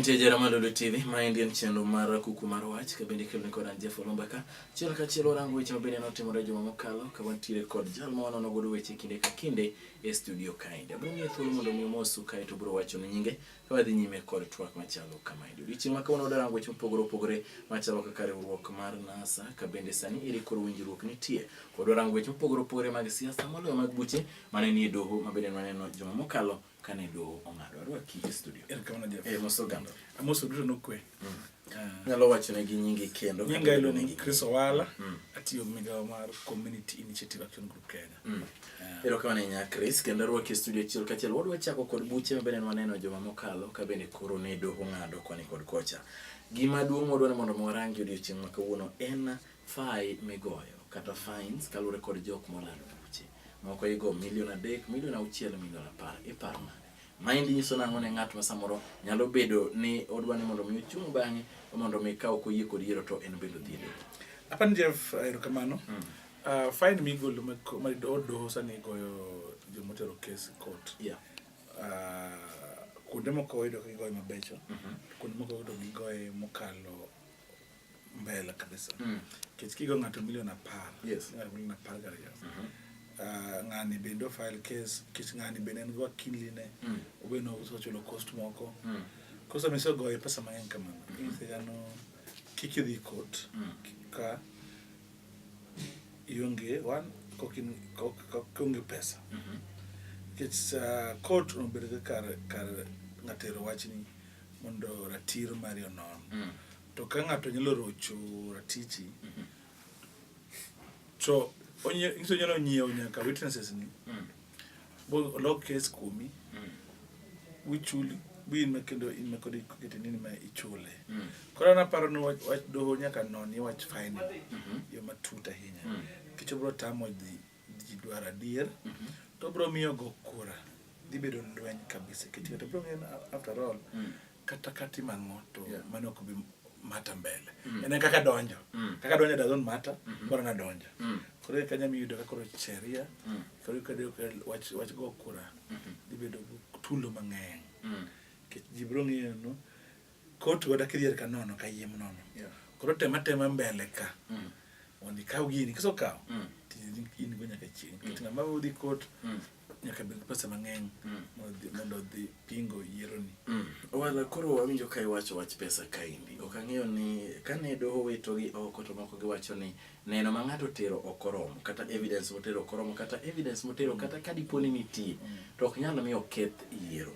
Nitie jera ma Lulu TV ma endi en chenro mar kuku mar wach ka bende kelni kod an Jeff Olumba ka chiel ka chiel warango weche mabende notimore juma mokalo ka wantiere kod jal ma wanono godo weche kinde ka kinde e studio kaendi. Abiro miye thuolo mondo mi omosu kae to biro wacho ni nyinge ka wadhi nyime kod twak machalo kamaendi. Odiochieng' ma kawuono wadango weche mopogore opogore machalo kaka riwruok mar NASA ka bende sani ere koro winjruok nitie. Kod warango weche mopogore opogore mag siasa moloyo mag buche mane nie doho ma bende nwaneno juma mokalo kane doho ong'ado. Arwaki e studio. Erokamano Jeff. Eh, moso oganda. Amoso duto nokwe. Mm. Nyalo wachone gi nyingi kendo. Nyinga iluongo ni Chris Owala, mm. atiyo migawo mar Community Initiative Action Group Kenya. Mm. Ero kama ne nya Chris, kendo rwaki e studio achiel kachiel. Wadwa chako kod buche ma bende waneno joma mokalo ka bende koro ne doho ng'ado koni kod kocha. Gima duong' wadwa ni mondo warangi odiochieng' ma kawuono en fai migoyo kata fines kaluwore kod jok molalo buche. Moko igo milion adek, milion auchiel, milion apar. Ipar nade? Maendi nyiso nang'o ne ng'at ma samoro nyalo bedo ni odwa ni mondo mi ochung' bang'e mondo mi ka ok oyie kod yiero to en bende odhi e doho? Apan Jeff, eh, erokamano. Mm. Uh, fine migolo ma ko- ma do- doho sani goyo jomotero kes e court. Yeah. Uh, kuonde moko wayudo ka gigoye mabecho, kuonde moko wayudo gigoye mokalo mbele kabisa mm. kech kigo ng'ato milion apar yes. ng'ato milion apar gariyo mm -hmm. Uh, ah, ng'ani bende ofile case kech ng'ani bende en gi wakiline mm. obende osechulo cost moko mm. koso misegoye pesa mang'eny kamano mm -hmm. isegano kik idhi court mm. ka ionge one kokionge pesa mm -hmm. kech uh, ah, court obedo kar kar ng'atero wachni mondo ratir mari onon mm. to ka ng'ato nyalo rocho ratichi mhm. to ng'iso nyalo nyiewo nyaka witnesses ni mm. bolok kes kuomi mm. wichuli bin ma kendo in ma kodi kokete nini ma ichule mm. koro an aparo ni wach doho nyaka noni wach fine mm-hmm. yo matut ahinya kicho bro tamo dhi ji dwaro adier to bro miyo go kura dhi bedo lweny kabisa kech kata bro ng'eyo after all mm. kata katimo ang'o to yeah. mano ok bi mata mbele mm. en kaka donjo mm. kaka donjo doesn't matter mm -hmm. bora nadonjo mm. koro kanya miyudo ka koro sheria mm. koro kado wach wach go kura mm -hmm. dhi bedo tulo mang'eny mm. kech ji bro ng'eyo no Koti wada kidhier ka nono ka yiem nono. Yeah. Koro tema tema mbele ka. Mm. Mondo ikaw gini kiso kaw. Mm. Tijini in go nyaka chieng'. Mm. Kitinga ma udhi kot. Mm. Nyaka bed pesa mang'eny mm. mondo dhi pingo yieroni. Mm. Wala koro wawinjo ka iwacho wach pesa kaindi. Ok ang'eyo ni kane doho wito gi oko to moko giwacho ni neno ma ng'ato tero ok oromo kata evidence motero ok oromo kata evidence motero mm. kata ka dipo ni nitie mm. to ok nyal miyo keth yiero.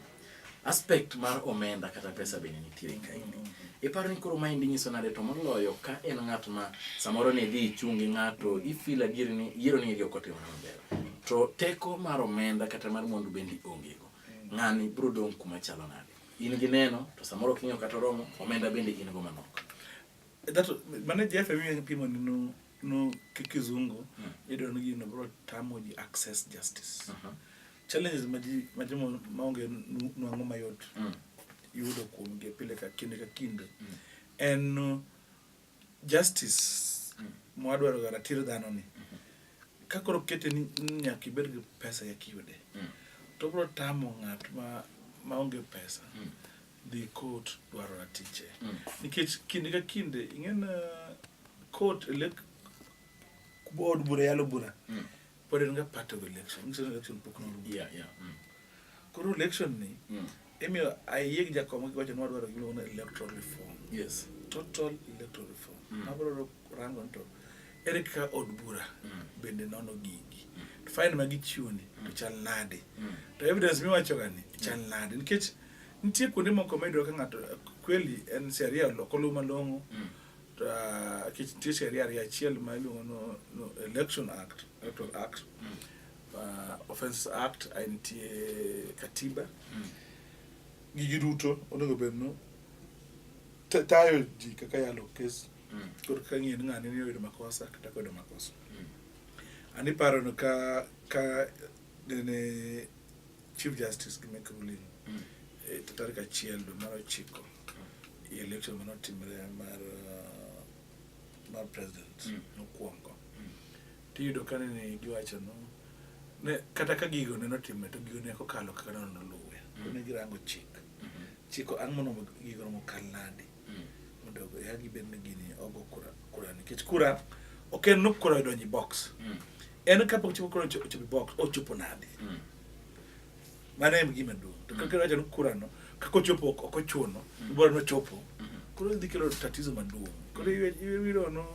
Aspect mar omenda kata pesa bende nitiere kaendi. Mm-hmm. Iparo ni koro maendi nyiso nade to moloyo ka en ng'at ma samoro ne dhi ichungi ng'ato ifil adier ni yiero ni ok otimore maber. To teko mar omenda kata mar mwandu bende ongego. Mm. Ng'ani biro dong' kuma chalo nade. In gi neno to samoro ok ing'eyo kata oromo omenda bende in go manok. That mane Jeff emi en pimo nino no kizungu mm. idon gino bro tamo ji access justice. Uh mm-hmm. -huh. Challenges majimo maonge nwang'o mayot mm. yudo kuom gi pile ka kinde ka kinde mm. en uh, justice mm. mwadwaro ga ratiro dhano ni mm-hmm. ka koro kete ni nyaka ibed gi pesa ya kiyude mm. to bro tamo ng'at ma maonge pesa mm. dhi court dwaro ratiche mm. nikech kinde ka kinde ing'ena uh, court elek od bura yalo bura mm. Pod en ga part of election. Nyiso ni election pok norumo. Yeah, yeah. Mm. Koro election ni mm. imiyo ayie gi jakom gi wacho ni wadwaro gimiluongo ni electoral reform. Yes. Total electoral reform. Mm. Mabro rango to ere kaka od bura mm. bende nono gigi. Mm. To fine ma gichiwo ni mm. to chal nade. Mm. To evidence miwacho ga ni chal mm. nade nikech nitie kuonde moko ma iyudo ka ng'ato kweli en sheria oloko luw malong'o. Mm. Uh, nitie sheria ariyo achiel ma iluongo no, no election act electoral act mm. uh, offense act ae nitie katiba mm. gigi duto onego bed no tayo ji kaka yalo kes mm. kod ka ng'e ni ng'ani ni oyudo makosa kata koyudo makosa mm. ani paro no ka ka nene Chief Justice gi make ruling mm. e eh, tarik achiel dwe mar ochiko mm. election mane otimre mar uh, mar president mm. nokwongo mm. tiyudo ka nene giwacho no ne kata ka gigo ne notime to gigo ne kokalo kaka neno noluwe mm. ne girango chik mm -hmm. chiko ang' mono gigo nomokal nadi mondo ya gibed ni gini ogo kura kura nikech kura ok en nuk kura donji box mm. en kapok chopo kura ochopo box ochopo nadi mm. mano en gima duong' to kaka wacho ni kura no kaka ochopo ok ochuno mm. bora nochopo mm-hmm. koro dhi kelo tatizo maduong' koro iwiro no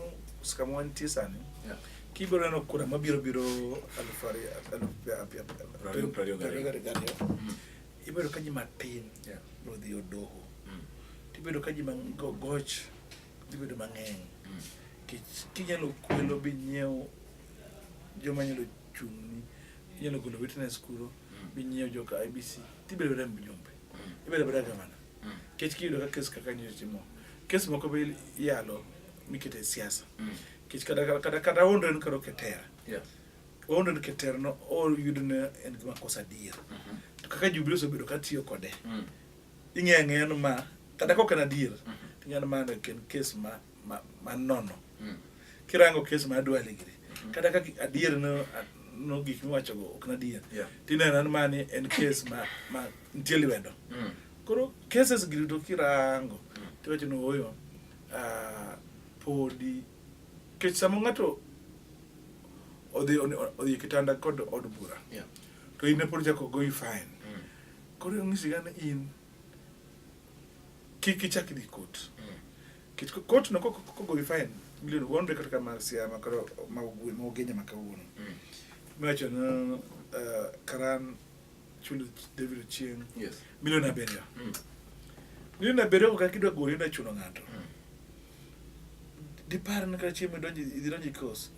skama wantie sani yeah kibiro neno kura mabiro biro aluf ariyo aluf ariyo gariyo ibedo ka ji matin yeah. biro dhi odoho mm. tibedo ka ji goch ibedo mang'eny mm. kinyalo kwelo bi nyiewo joma nyalo chung'ni inyalo golo witness kuro mm. bi nyiewo joka ibc tibedo remb jumbe mm. ibedo bada gavana mm. kech kiyudo ka kes kaka nyo timo kes moko be iyalo mikete siasa mm. kech kata kata kata ondo en karo ketera yeah. Wawuondo ni keter no oyudo ni en gima kosa adier. Mhm. To kaka Jubilee osebedo ka tiyo kode, mm. ing'eyo ang'eya ni ma kata kok en adier, mhm. ing'eyo ni ma en kes ma ma nono. Mm. Kirango kes ma adwa ligiri. Mhm. Kata kaka adier no no gik miwacho go ok nadier. Tineno ni mani en kes ma ma nitie lwedo. Mm. Koro cases gi to kirango mm. tiwacho ni oyo ah, podi Kech sama ng'ato odhi odhi kitanda kod od bura yeah. to in pod chako goyi fine mm. koro ong'isi gane in kik ichak dhi kot mm. kech kot no kogoyi fine milioni wonre kata kama siama kata ma ogwe ma ogenya ma kawuono mm. miwacho no uh, karan chulo david ochieng yes. milioni abiriyo mm. milioni abiriyo kaka kidwa gori na chuno ng'ato mm. dipar ni kata chieng' midonjo idhi donjo e kos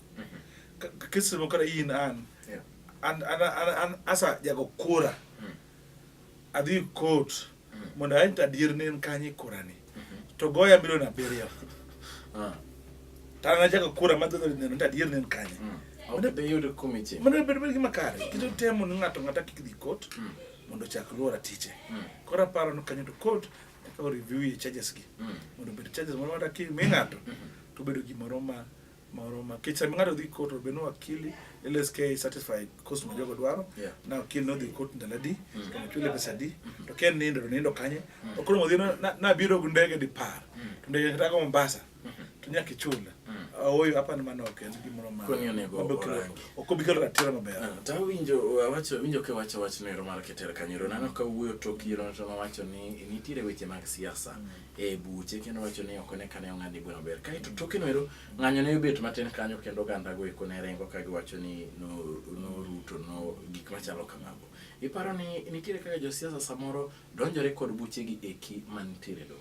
Ka- kesi moko kata in an Yeah. an an an an asa jago kura Mm. adhi kot Mm. mondo aen adier ni en kanye kurani to goya milion abiriyo Ah. to an ajago kura madhi neno to adier ni en kanye Mm. Ok bi yudo kumi chieng'. mano bedo bedo gima kare kendo temo ni ng'ato ng'ata kik dhi kot Mm. mondo ochak luwo ratiche Mm. koro aparo ni kanyo to kot Eka o-review e charges gi mm. mondo obed charges moro mata kimi ng'ato mm-hmm. to obedo gimoro ma moro ma kech sama ng'ato dhi court obed ni wakili LSK certified cost ma jogo dwaro na wakili nodhi court ndalo adi mm. to nochule pesa adi mm-hmm. to ken nindo to nindo kanye mm. okoro modhi nabiro gi ndege dipar to ndege kata go Mombasa to nyaka ichul mm. aoyo apani mano ok en gimoro maokobikelo ratiro maber ah, to awinjo awacho winjo ka wacho wach noero mar keter kanyero nano ka wuoyo tok yiero to nowacho ni nitiere weche mag siasa mm. e buche kendo wacho ni ok one kane ong'ad bura maber kaeto mm. toke noero ng'anyo ne obet matin kanyo kendo oganda go eko ne rengo ka giwacho ni noruto no gik machalo kamago iparo ni nitiere kaka josiasa samoro donjore kod buchegi eki manitiere dogo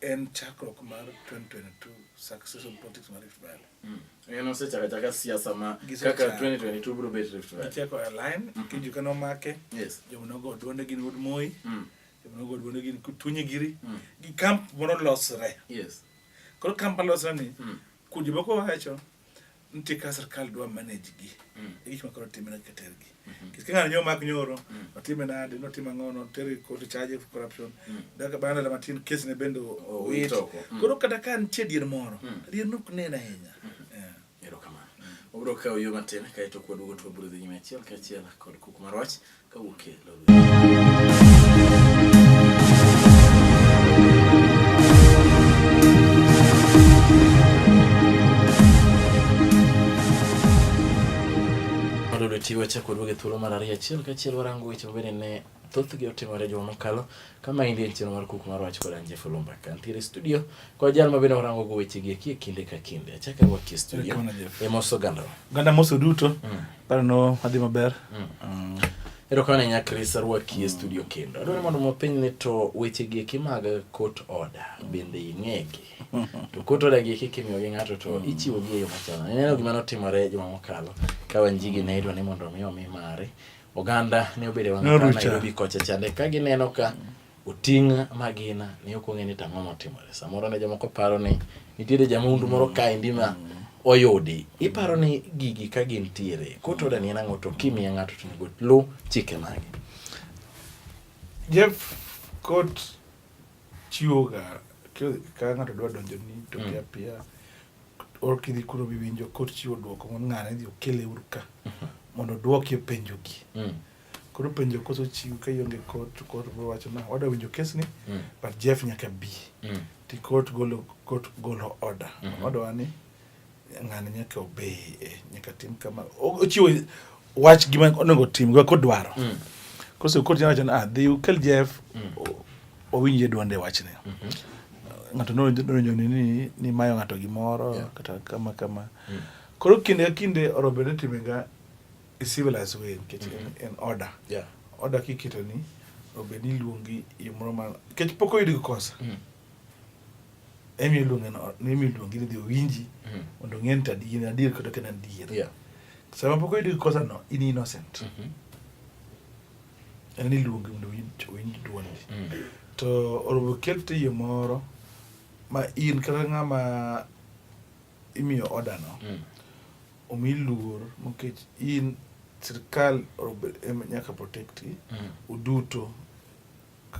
en chakruok mar 2022 success of politics mar Rift Valley. Mm. En osechaka chaka siasa ma kaka 2022 bro bet Rift Valley. Cheko align mm -hmm. kijuka no make. Yes. Jomo nogo duonde gin Wood Moi. Mm. Jomo nogo duonde gin Tunye Giri. Mm. Gi camp moro losre. Yes. Koro camp losre ni. Mm. Kundi moko wacho nitie ka sirkal dwa manage gi mm. e gik makoro timre keter gi mm-hmm. kis king'ano nyo mak nyoro mm. otime nade notim ang'o noter kod charge of corruption mm. daka bana la matin kes ne bende owit koro kata ka nitie dier moro dier nok nena ahinya mm-hmm. erokamano obiro kawo yo matin kaeto kwaduogo to wabiro dhi nyime achiel kachiel kod kuk marwach Chiwo chako duoge thuolo mar ariyo achiel kachiel warango weche mabende ne thothgi otimore juma mokalo kama indie nchino mar kuku mar wach koda nje fulumba kantiere studio kwa jal ma bende orango go weche gi kie kinde ka kinde achaka wa kie studio e moso ganda ganda moso duto mm. paro no adhi maber mm. mm. ero kana nya Chris arwa kie studio kendo adwaro mondo mo piny ni to weche gi eki mag court order bende ing'egi to court order gi eki kimiyo gi ng'ato to mm. ichiwo gi e yo machalo ineno gima notimore juma mokalo ka wanjigi ne idwa ni mondo mi omi mare Oganda ne obedo wang' apaya Nairobi kocha chande ka gineno ka oting' magina ne ok ong'e ni tang'o motimore. Samoro ne jomoko paro ni nitiere jamundu moro kaendi ma oyudi. Iparo ni gigi ka gintiere, court order ni en ang'o to kimiye ng'ato to onego luw chike mage? Jeff, court chiwoga ka ng'ato dwa donjoni to mm. piyo piyo or kidhi kuro biwinjo kod chiwo dwoko mondo ng'ane idhi okele uru ka mhm. mondo dwoki penjo gi mm. koro penjo koso chiw ka ionge kot to kot bro wacho na wada winjo kes ni mm. but Jeff nyaka bi mm. ti kot golo kot golo order mm -hmm. order wani ng'ane nyaka obey eh, nyaka tim kama ochiwo wach gima onego tim go kodwaro mm. kose kod nyalo chana ah dhi ukel Jeff mm. owinje duonde wachne mm -hmm. ng'ato nodonjo ni ni ni mayo ng'ato gimoro yeah. kata kama kama mm. koro kinde ka kinde orombe ne time ga e civilized way nikech mm -hmm. en, en order yeah. order kiketo ni obed ni iluongi yo moro ma nikech pok oyud gi kosa mm. emi iluonge no emi iluonge ni dhi owinji mm. mondo ng'e ni to in adier kata ok en adier yeah. sama pok oyudi kosa no in innocent mm -hmm. en iluonge mondo owinj duondi mm. to orobo kel tiyo moro ma in kata ng'ama imiyo order no mm. omi luor nikech in sirikal nyaka protect mm. uduto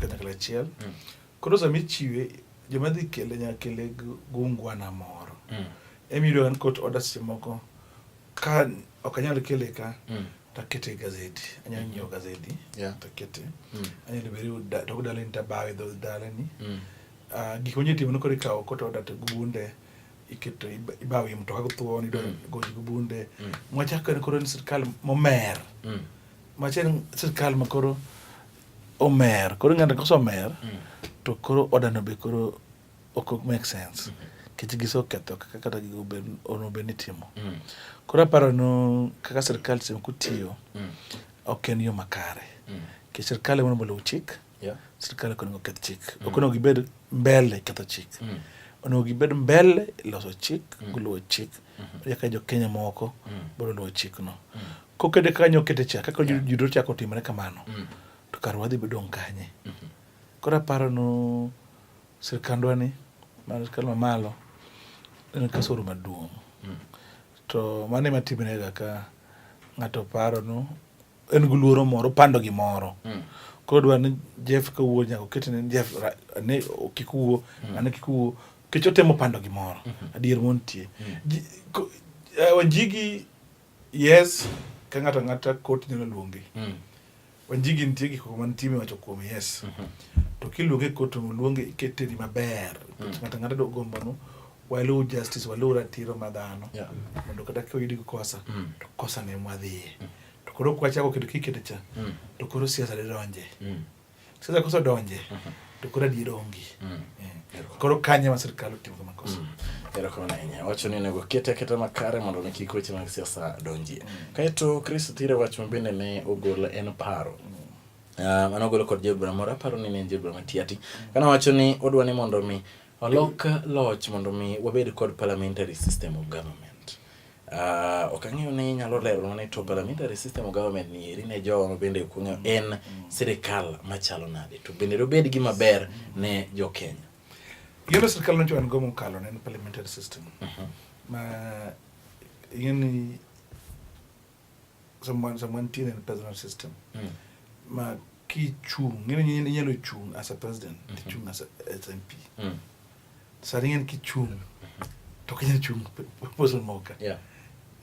kanyakla achiel mm. koro sama ichiwe joma dhi kele nyaka kele gungwana moro mm. emiyudo an kot oda seche moko ka ok anyal kele ka mm. takete e gazeti anyalo mm-hmm. nyiewo gazeti yeah. takete mm. anyalo bedo tok dalani tabawe dho dalani mm. uh, gik manyalo timo nokoro ikawo kot oda to gunde iketo ibawo im to kago thuon ido mm. goji go bunde mm. mwachako en koro ni sirkal momer mm. machel sirkal makoro omer koro ng'ato kosomer mm. to koro odano be koro ok make sense mm-hmm. kech giseketho kaka kata ono bed ni timo mm. koro aparo no kaka sirkal sema kutiyo mm. ok en yo makare kech sirkal ema onego oluw chik sirkal ok onego keth chik ok onego gibed mbele ketho chik onego gibed mbele loso chik guluwo chik mm-hmm. yaka jo kenya moko biro luwo chikno Kokede kaka nyokete cha kaka yeah. yudo chako timre kamano mm. to kar wadhi bedo kanye mm -hmm. koro aparo no sirkandwa ni mar sirkal mamalo en kasoro maduong' mm. to mano ema timrega ka ng'ato paro no en gi luoro moro pando gimoro mm. koro dwa ni Jeff kawuo nyaka oket ni Jeff ne kik wuo mm. ane kik wuo kech otemo pando gimoro mm -hmm. adier montie mm. Wanjigi Yes, ka ng'ato ang'ata kot nyalo luonge. Mm. Wanjigi nitie gik moko mantie miwacho kuom yes. Mm -hmm. To kiluonge kot to luonge ikete ni maber. Mm. Ng'ato ang'ata do gombo no waluw justice waluw ratiro ma dhano yeah. mondo kata ka oyudi gi kosa mm. to kosa ne mwadhiye mm. to koro kwachako kedo kikete cha mm. to koro siasa de donje mm. Sasa kosa donje to koro adier onge mm. eh, koro kanye ma sirkal otimo kama kosa mm. erokamano ahinya wacho ni onego kete aketa makare mondo ne kik weche mag siasa donjie mm. kaeto chris thire wach ma bende ne ogol en paro ah, mano ogolo kod jobura moro aparo ni ne en jobura matiati kana wacho ni odwa ni mondo mi olok loch mondo mi wabed kod parliamentary system of government Uh, ok ang'eyo ni inyalo lero ni to parliamentary system of government ni eri ne jowa mabende ok ong'eyo en sirikal machalo nade to bende dobed gi maber ne jo Kenya. Yoro sirikal no jowan go mokalo ne en parliamentary system. Uh mhm. -huh. Ma ing'eni someone someone tin in personal system mm. ma kichung ngene nyine nyalo chung as a president mm -hmm. kichung as a SMP mm. sari ngene kichung mm -hmm. to kinyalo chung person moka yeah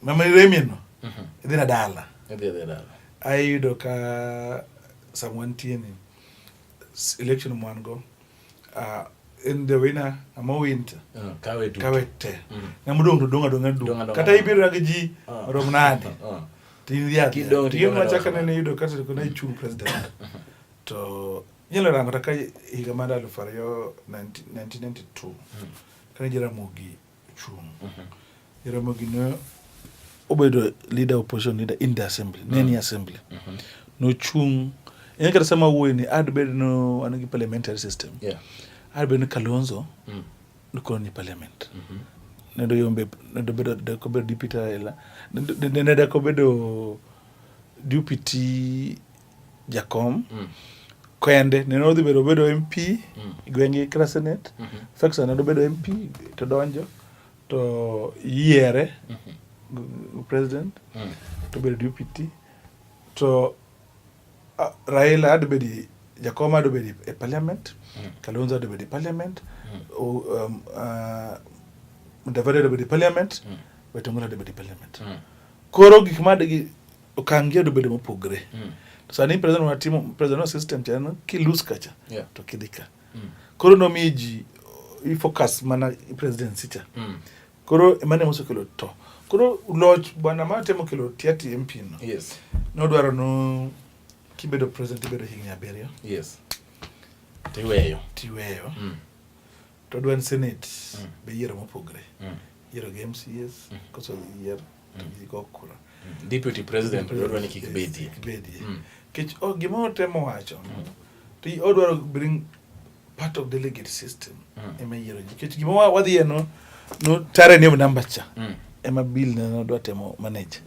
mama remi no mm -hmm. idhi na dala idhi na dala ayudo ka someone tin in election mwan go uh, in the winner ama winter uh, kawe duto kawe te mm. na mudong to donga donga du kata ibiro na ji uh. rom nade uh. tin ya kidong ti ma chaka ne ne yudo kata ko na chu president uh-huh. to nyelo rango ta ka higa mar aluf ariyo 1992 mm. kana jira mogi chung' Jaramogi ne obedo leader opposition leader in the assembly ne ni assembly nochung' en kata sama wuoyi ni ad bed no an gi parliamentary system Yeah. ad bed ni Kalonzo Mm. nokon ni parliament ne do yombe ne do bedo de ko bedo deputy ela ne do- ne ne de ko bedo deputy jakom mm. kende nene odhi bedo bedo mp mm. gwenge kra senate mm -hmm. feksa nene obedo mp to donjo to yiere mm -hmm. president mm. to bedo dpt to uh, raila adobedi jakom adobedi e parliament mm. kalonzo adobedi parliament mm. um, uh, mudavadi adobedi parliament mm. wetongoro adobedi parliament mm. koro gik ma Okang' gi odobedo mopogre. Mm. Sani president wa timo president wa system cha en kilus kacha yeah. to kidhi ka. Mm. Koro nomiyo ji ifocus mana presidency cha. Mm. Koro emane mosekelo to. Koro loch bwana ma temo kelo tiati MP no. Yes. Nodwaro no kibedo president ibedo higni abiriyo. Yes. Tiweyo. Tiweyo. Mm. To dwand Senate mm. be yiero mopogre. Mm. Yiero gi MCAs, mm. koso yier to mm. gi go kura. Mm. Deputy President dwaro ni kik bedie. Kik bedie. Mm. Kech oh, gima otemo wacho, mm. to odwaro bring part of delegate system mm. ema yiero ji. Kech gima wadhiye no, no tare ni number cha. Mm. Ema bill na dwa temo manage.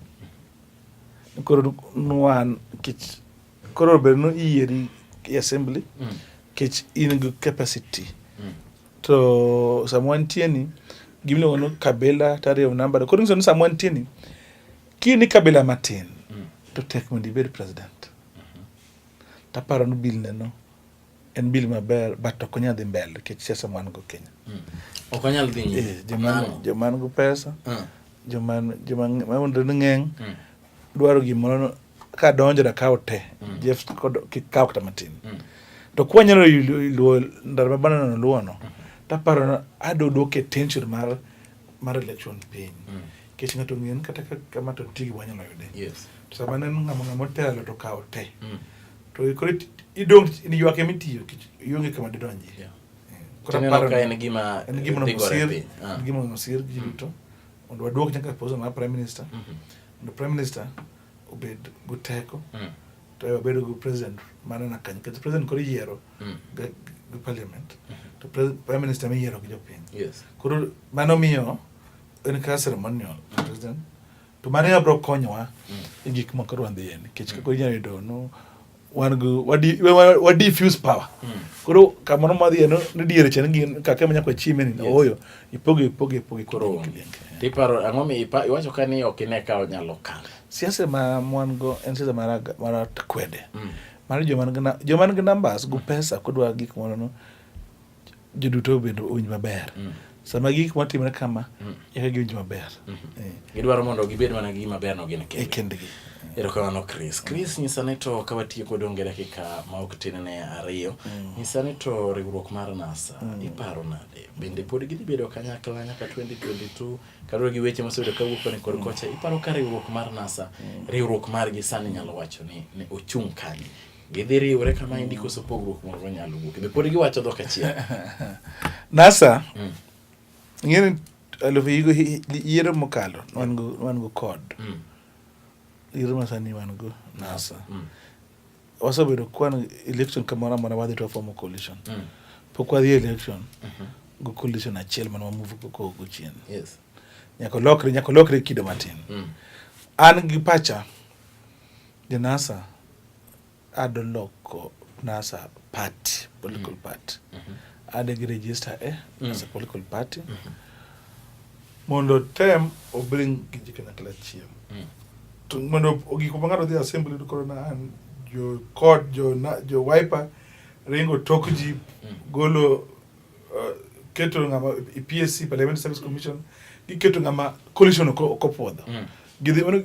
Mm. Koro nuan kech Koro ber no iyieri e assembly mm. kech in gi capacity mm. to sama wantie ni gimiluongo ni kabila tariyo namba koro nyiso ni sama wantie ni ki ni kabila matin mm. to tek mondo ibed president mm -hmm. taparo ni bill neno En bil maber but ok onyal dhi mbele nikech siasa mwan go Kenya. Mm. Ok onyal dhi nyime. Eh, joman joman go pesa. Mm. Joman joman maunde ng'eng. Mm. Dwaro gimoro ka donjo da kawo te. Mm. Jeff kod kikawo kata matin. Mm. To kwa nyalo luo ndar mabana no luo no. Mm. Taparo ado doke tension mar mar election piny. Mm. Kech ng'ato ng'en kata kama to tigi wanyalo yude. Yes. sama neno ng'ama ng'ama otelo to kawo te mm. to koro idong' in ywak ema itiyo ionge kama didonji yeah. Tineno ka en gima en gima nosir en ah. gima nosir ji duto mm. mondo waduok nyaka pozo mar prime minister mm-hmm. mondo prime minister obed guteko mm. to wabedo gi president mane na kany kata president koro iyiero mm. gi parliament mm-hmm. to prime minister miyiero gi jopiny koro mano miyo en kaka ceremonial president to mano ema biro konyowa e gik moko dwa dhiye nikech kaka inyalo yudo no wan gi wadi- wa- wa- wa diffuse power koro kamoro madhiye no ni diere chene gin kaka manya kwa chime ni oyo ipogo ipogo ipogo Koro ipogo onge. Tiparo ang'o mi ipa- iwacho ka ni ok ine ka onyalo kalo. siasa ma mwan go en siasa mara mara kwede mar joma nigi na- joma nigi numbers go pesa kodwa gik moro no joduto bende owinj maber mm. sama gik matimre kama mm. eka giwinj maber mm-hmm. eh. gidwaro mondo gibed mana gi maberno gin e kendgi erokamano chris chris nyisa ni to ka watiyo kod onge dakika ma ok tin ne ariyo mm. nyisa ni to riwruok mar nasa iparo nade bende pod gidhi bedo kanyakla nyaka 2022 kaluwore gi weche mosebedo kawuok koni kod kocha iparo ka riwruok mar nasa riwruok margi sani nyalo wacho ni ochung' kanye gidhi riwre kama endi koso pogruok moro nyalo wuok be pod giwacho dhok achiel nasa mm. ng'eni alufu yigo yiero mokalo wan go wan go kod mm. yiero masani wan go nasa mm. wasebedo kwan election kamoro amora wadhi to wafomo coalition mm. pok wadhi election mm -hmm. go coalition achiel mana wamuvu kogo chien yes. nyaka olokre nyaka olokre kido matin mm. an gi pacha The NASA ado loko NASA party, political mm. party. Mm -hmm. Ade gi register e mm. as a political party. Mm -hmm. Mondo tem obring gi ji kanyakla achiel. Mm. To mondo gik ma ng'ato dhi assembly to koro na an jo kod jo na, jo wiper ringo tok ji mm. golo uh, keto ngama e PSC Parliamentary Service Commission giketo ngama coalition okopwodho mm. gidhi mano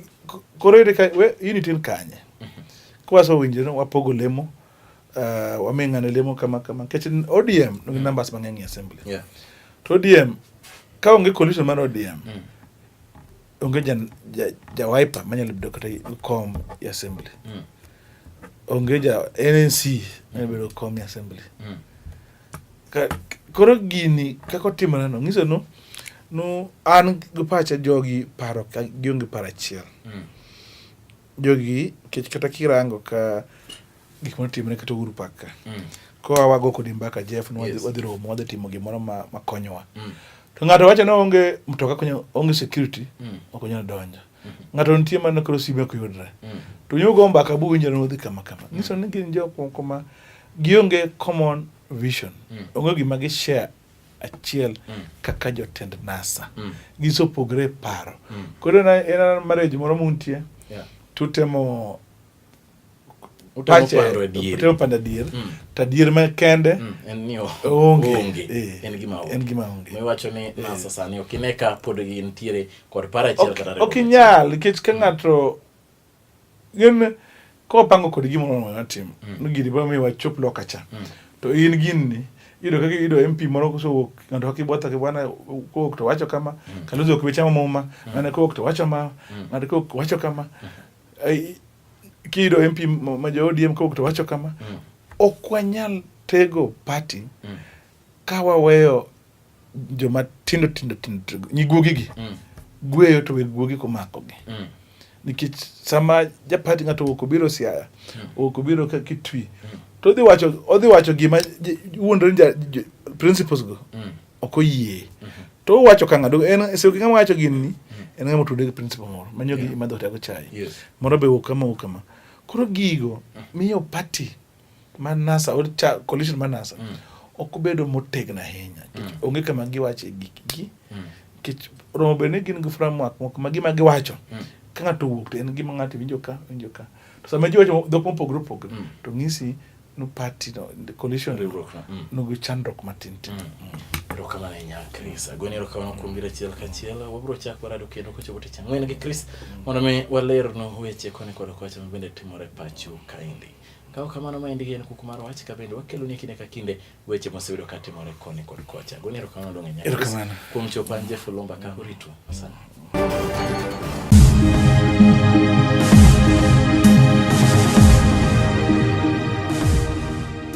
koro ere ka we unit in kanye mm -hmm. kwaso winjre no wapogo lemo uh, wami ng'ane lemo kama kama kech ODM nigi mm. numbers mang'eny e assembly yeah. to ODM ka onge coalition mar ODM mm. onge ja, ja, ja wiper manyalo bedo kata kom e assembly mm. onge ja NNC manyalo bedo kom e assembly mm. ka, koro gini kaka otimore no ng'iso no no an gi pacha jogi paro ka gionge paro achiel mm. jogi kech kata kirango ka gik moro timre kata Uhuru Park ka mm. koa wago kodi mbaka Jeff ni yes. wadhi romo wadhi timo gimoro ma, ma konyowa mm. to ng'ato wacho ni onge mtoka konyo onge security mm. ok onyal donjo mm -hmm. ng'ato nitie mana koro sime ok yudre mm. to nyugo mbaka bu winjore nodhi kama kama mm. nyiso ni gin jok moko ma gionge common vision mm. onge gima gi share achiel mm. kaka jotend NASA mm. gisopogre paro mm. koro en marriage moro muntie yeah. tutemo utopanda dier mm. ta dier ma kende mm. onge eh, en gima onge miwacho ni eh. nasa sani ok ine ka pod gintiere kod para achiel kata ok inyal nikech ka ng'ato gin kopango kod gimoro mondo natimo mm. no gini biro miwa chop loka cha to in gini iyudo kaka iyudo MP moro kosewuok ng'ato kaka ibwatho ki bwana kowuok to wacho kama Kalonzo ok bi chamo muma ng'ato kowuok to wacho ma ng'ato kowuok wacho kama Kido MP ma jo ODM kok to wacho kama, mm. ok wanyal tego party mm. ka waweyo joma tindo tindo tindo nyiguogi gi mm. gweyo to weg guogi komako gi mm. nikech sama japati ng'ato owuok obiro siaya mm. owuok obiro ka kitwi mm. to odhi wacho odhi wacho gima wuondore principles go mm. ok oyie to owacho ka ng'ado en e seche ng'ama wacho gini en ng'ama otude gi principal moro manyo gi madho tego chai moro be wuok kama wuok kama koro gigo miyo party ma NASA or coalition ma NASA mm. ok obedo motegno ahinya mm. onge kama giwacho e gikgi mm. nikech romo bed ni gin gi framework moko ma gima giwacho mm. ka ng'ato owuok to en gima ng'ato winjo ka winjo ka to sama ji wacho dhok mopogore opogore mm. to ng'isi no party no the coalition riwruok no mm. no chandruok matin tin mm. mm. erokamano ahinya Chris agoni erokamano kuom biro achiel kachiel wabiro chako rado kendo kochopo tich ang'wen gi Chris mm. mondo mi waler no weche koni kod kocha mabende timore pacho kaendi kawo kamano maendi en kuku mar wach ka bende wakeloni kinde ka kinde weche moseyudo ka timore koni kod kocha. Goni erokamano donge nyaka. Erokamano. Kuom chopo an Jeff Olomba ka uritu. Asante.